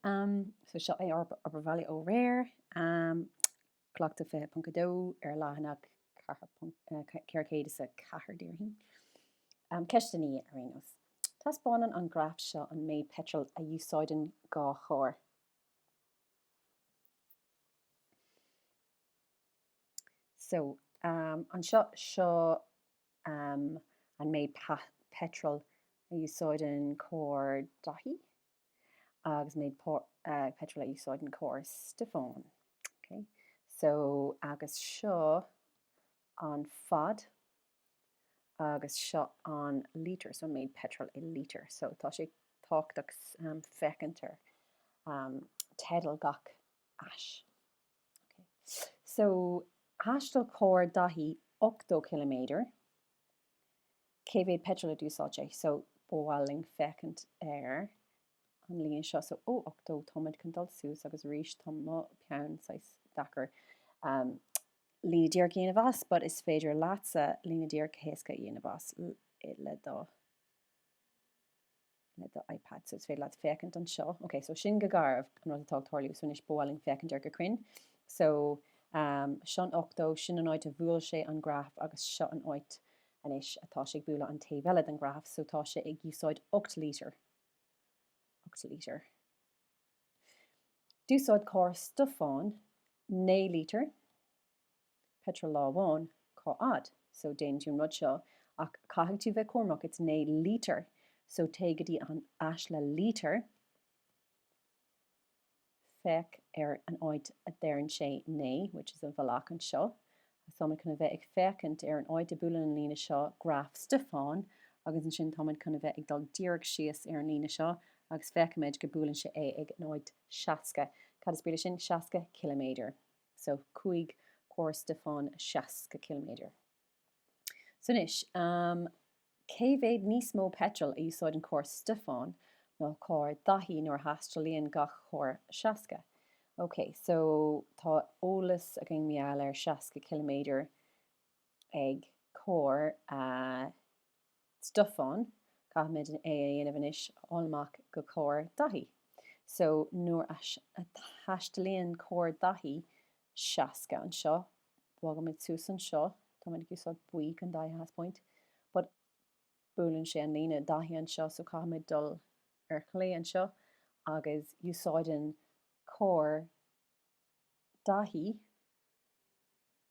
Um, so seo é ár obair bhaile ó aréir. Um, Cleachtadh 20.2 ar leathanach 404 d'iarr mé. Um, Ceist a naoi ar aon nós. Taispeánann an graf seo an méid peitril a úsáideann dhá charr. So, um, anseo seo um, an méid peitril a úsáideann carr Daithí. agus méid por, uh, petrol a úsáideann carr Stiofán. Okay. So, agus seo an fad agus seo an lítear, so méid petrol i lítir. So, tá sé tábhachtach um, féachaint ar um, teideal gach ais. Okay. So, thaistil carr Daithí 80 km cé mhéad peitril a d'úsáid sé so ba mhaith linn féachaint ar an líne seo so ó 80 táimid chun dul suas agus arís tá mo peann saghas deacair ehm líne díreach a dhéanamh as but is féidir leatsa líne díreach héasca a dhéanamh as le do le do iPad so is féidir leat féachaint anseo. Ok, so sin go garbh an rud atá ag tarlú, so anois ba mhaith linn féachaint air go cruinn. So, um, seo an 80, sin an áit a bhuail sé an graf agus seo an áit anois atá sé ag bualadh an taobh eile den graf, so tá sé ag úsáid 8 lítear. 8 lítear. D'úsáid carr Stiofán 9 lítear. peitril lá amháin, cá fhad? so déanann tú an rud seo ach caithfidh tú bheith cúramach it's 9 lítear so téigh go dtí an ais le lítear féach ar an áit a deireann sé 9 which is an bhealach anseo so táimid chun bheith ag féachaint ar an áit a bhuaileann an líne seo graf Stiofán agus ansin tá muid chun bheith ag dul díreach síos ar an líne seo agus féachaimid go buaileann sé é ag an áit 60 cad is brí le sin 60 ciliméadar. so chuaigh carr Stiofáin 60 km. So anois, cé mhéad níos mó peitril a úsáideann carr Stiofáin ná carr Dhaithí nuair a thaistealaíonn gach carr 60? Ok, so tá eolas againn mar gheall ar 60 km ag carr a. Stiofáin, Caithfimid é a dhéanamh anois a fháil amach do charr Daithí. So nuair a thaistealaíonn carr Daithí 60 anseo, bogaimid suas anseo, táimid ag úsáid buí chun Daithí a thaispeáint, but buaileann sé an líne Daithí anseo so caithfimid dul ar chlé anseo agus úsáideann carr Daithí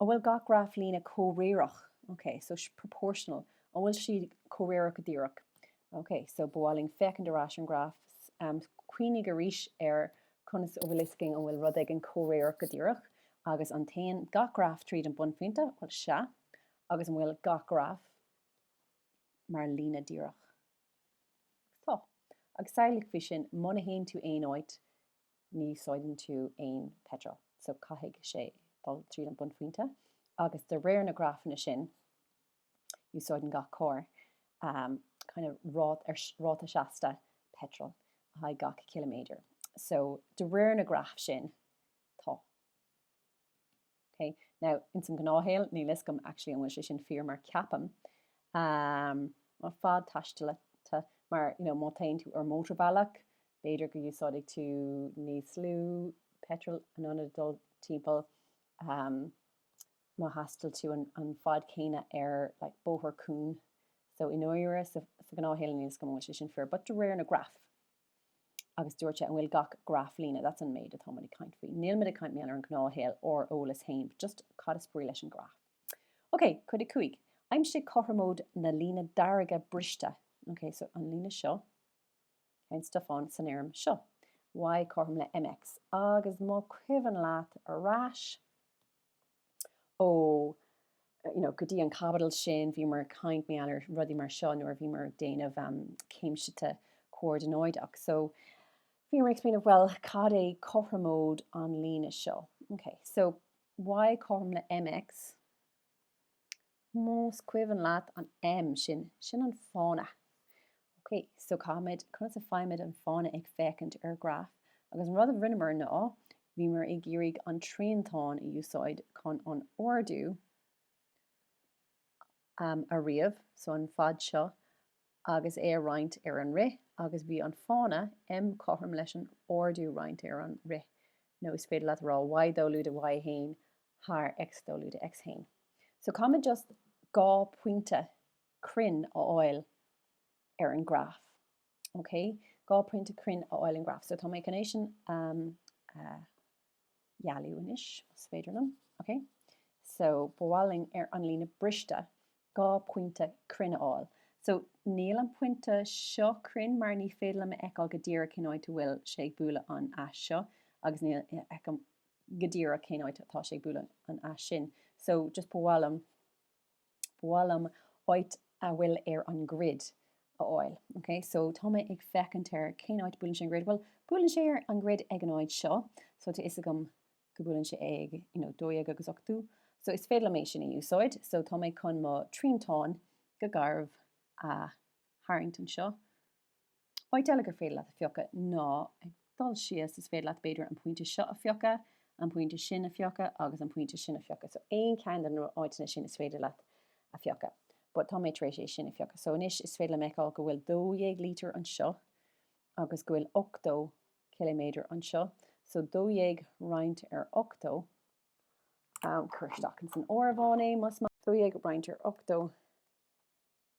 An bhfuil gach graf líne comhréireach? Ok, so proportional. An bhfuil siad comhréireach go díreach? Ok, so ba mhaith linn féachaint ar ais an graf. Cuimhnigh arís ar conas a bhfuil fhios againn an bhfuil rud éigin comhréireach go díreach agus an dtéann gach graf tríd an bunphointe? Bhuel, sea. Agus an bhfuil gach graf mar líne díreach? Tá. Agus samhlaigh faoi sin, muna théann tú aon áit, ní úsáideann tú aon peitril, so caithfidh sé dul tríd an bunphointe agus de réir na grafanna sin úsáideann gach carr um kind of ráta seasta peitril le haghaidh gach ciliméadair. So de réir na graf sin tá. Ok now ins an gnáthshaol níl fhios agam actually an bhfuil sé sin fíor mar ceapaim ehm an fad taistealta mar you know má téann tú ar mótorbhealach b'fhéidir go n-úsáidfidh tú níos lú peitreal in ionad dul timpeall ehm má thaistil tú an fad céanna ar like bóthar cúng so i ndáiríre sa gnáthshaol níl fhios agam an bhfuil sé sin fíor but de réir na graf agus dúirt sé, an bhfuil gach graf líne? That's an méid atá muid ag caint faoi. Níl muid ag caint em ar an ghnáthshaol, ár eolas féin, but just cad is brí leis an graf? Ok, cuid a cúig. Aimsigh cothromóid na líne dearga briste. Ok, so an líne seo, an slope san fhoirm seo. Y cothrom le mx. Agus más cuimhin leat ar ais, ó you know go dtí an caibidil sin bhíomar ag caint faoi a lán rudaí mar seo nuair a bhíomar ag déanamh um, céimseata comhordanáideach so bhíomar ag explaineáil well cad é cothromóid an líne seo okay so y cothrom le mx Más cuimhin leat an M sin, sin an fána. Ok, so caithfimid, conas a fhaighimid an fána ag féachaint ar ghraf agus an rud a rinneamar ná bhíomar ag iarraidh an triantán a úsáid chun an ardú a ríomh, so an fad seo, agus é a roinnt ar an rith agus bhí an fána, em cothrom leis an ardú roinnt ar an rith nó is féidir leat a rá Y dó lúide Y haon thar X dó lúide X haon. So caithfimid just dhá pointe cruinn a fháil ar an ghraf, okay, dhá pointe cruinn a fháil ar an ghraf. So tá mé chun é sin a, a. dhealú anois más féidir liom, ok so ba mhaith linn ar an líne briste dhá pointe cruinn a fháil so níl an pointe seo cruinn mar ní féidir liom a fheiceáil go díreach cén áit a bhfuil sé ag bualadh an ais seo agus ní fheicim go díreach cén áit atá sé ag bualadh an ais sin so just ba mhaith liom Ba mhaith liom áit a bhfuil ar an grid a fháil. Ok, so tá mé ag féachaint ar cén áit buaileann sé an grid. Bhuel, buaileann sé ar an grid ag an áit seo. So tá fhios agam go buaileann sé ag, you know, dó dhéag agus ochtó. So is féidir liom é sin a úsáid. So tá mé chun mo triantán go garbh a tharraingt anseo. Áit eile gur féidir leat a phiocadh ná ag dul síos, is féidir leat b'fhéidir an pointe seo a phiocadh, an pointe sin a phiocadh agus an pointe sin a phiocadh. So aon cheann de na áiteanna sin is féidir leat a phiocadh. But tá mé tar éis é sin a phiocadh. So anois is féidir liom a fheiceáil go bhfuil 12 lítear anseo agus go bhfuil 80 ciliméadar anseo. So 12 roinnt ar 80, cur isteach ins an áireamhán é más maith leat, 12 roinnt ar 80,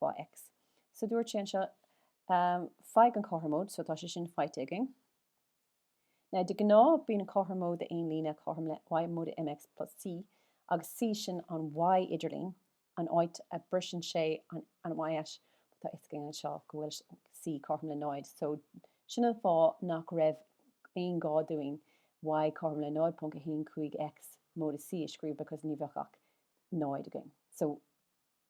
fá X. So dúirt sé anseo faigh an cothromóid, so tá sé sin faighte againn. Now de ghnáth bíonn an cothromóid de aon líne cothrom le y móide mx plus c agus c sin an y idirlín, an áit a briseann sé an an y ais but tá fhios againn anseo go bhfuil c cothrom le 0 so sin an fáth nach raibh aon gá dúinn y cothrom le 0.15 X móide c a scríobh because ní bheadh ach 0 againn. So.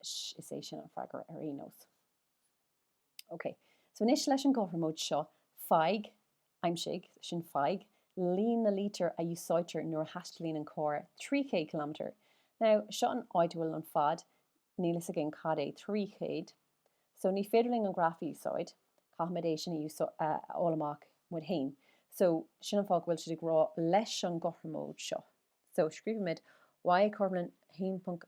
Is é sin an freagra ar aon nós. Ok, so anois leis an gcothromóid seo, faigh, aimsigh, sin faigh líon na lítear a úsáidtear nuair a thaistealaíonn an carr 300 kilometre. Now, seo an áit a bhfuil an fad, níl fhios againn cad é 300, so ní féidir linn an graf a úsáid, caithfimid é sin a fháil amach muid fhéin. So, sin an fáth go bhfuil siad ag rá leis an gcothromóid seo. So, scríobhaimid y cothrom le 1.5.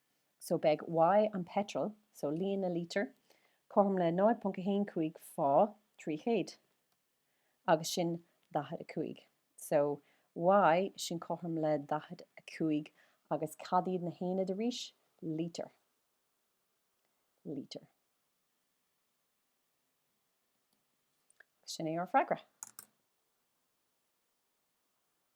so beidh Y an peitreal, so líon na lítear, cothrom le 0.15 fá 300, agus sin 45. So Y sin cothrom le 45 agus cad iad na haonaid arís? Lítear. Lítear. Sin é ár freagra.